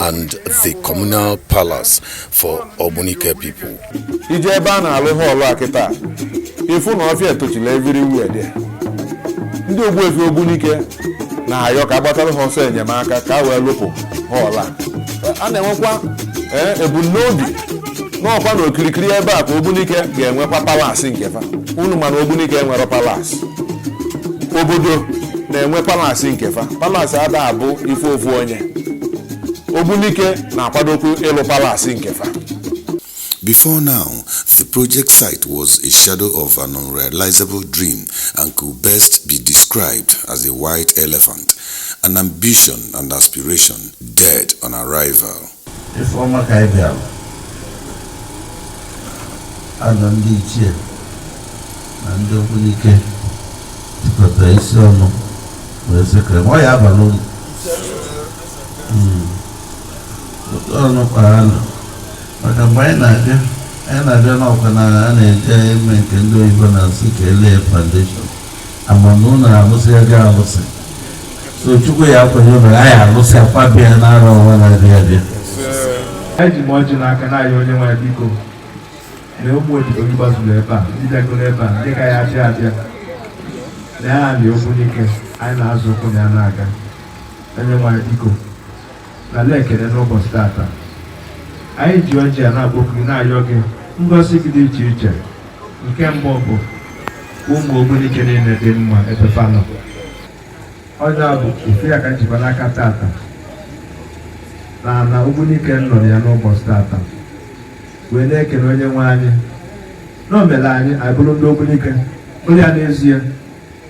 and the communal palace for Ogbunike people. i jee ebe a na-alụ hall a kịta ị fụ na ọfịa etochila everywhere there ndị ogbuefi ogbunike na-ayọ ka a gbatara ha ọsọ enyemaka ka a wee lụpụ hall a a na-enwekwa ee, ebumnobi n'ọkwa n'okirikiri ebe a ka ogbunike ga-enwekwa palace nke fa unu ma na ogbunike enwerọ palace obodo na-enwe palace nke fa palace ada abụ ife ofu onye ogbunike na-akwadokwu ịlụ palace nke fa Before now, the project site was a shadow of an unrealizable dream and could best be described as a white elephant, an ambition and aspiration dead on arrival. Ife ọma ka anyị bịara anọ ndị ichie na ndị ogbunike jikọtara isi ọnụ wee sị ka ọ ya aba n'ụlọ otu ọnụ kpara anụ maka mgbe anyị na-abịa anyị na-abịa n'ọkwa na a na-eje ime nke ndị oyibo na-asị ka e lay foundation a ma na ụlọ alụsị a ga-alụsị so chukwu ya-akwenye ụlọ a ya-alụsị a kwaba ya n'arọ nwa na-abịa abịa eji m ọjị n'aka na-ayọ onye nwe anyị biko na ụmụ odibo gị gbazuru ebe a ndị bịagoro ebe a ndị ka ya-abịa abịa na ya na ogbunike anyị na-azọ ụkwụ na ya na-aga onye nwe anyị biko nara ekele n'ụbọchị tata anyị ji ọjị a na-akpọku gị na-ayọ gị ngọzi gị dị iche iche nke mbụ bụ ụmụ ogbunike niile dị mma ebe fa nọ ọ nya bụ ofu ya ka m jikwa n'aka tata na na ogbunike nọrọ ya n'ụbọchị tata wee na-ekele onye nwe anyị na o mere anyị anyị bụrụ ndị ogbunike bụrụ ya n'ezie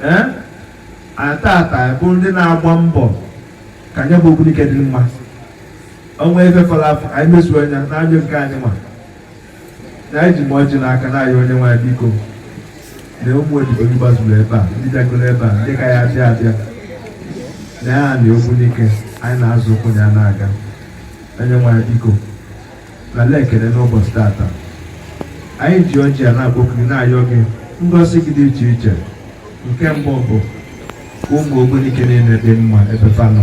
ee anyị tata bụ ndị na-agba mbọ ka nya bụ ogbunike dị mma o nwe ife fọrọ afọ ka anyị mezuo anya n'anya nke anyị ma na anyị eji m ọjị n'aka na-ayọ onye nwe anyị biko na ụmụ odibo gị gbazuru ebe a ndị bịagoro ebe a ndị ka ya-abịa abịa na ya na ogbunike anyị na-azọ ụkwụ na ya na-aga onye nwe anyị biko nara ekele n'ụbọchị tata anyị ji ọjị a na-akpọku gị na-ayọ gị ngọzi gị dị iche iche nke mbụ bụ ụmụ ogbunike niile dị mma ebe fa nọ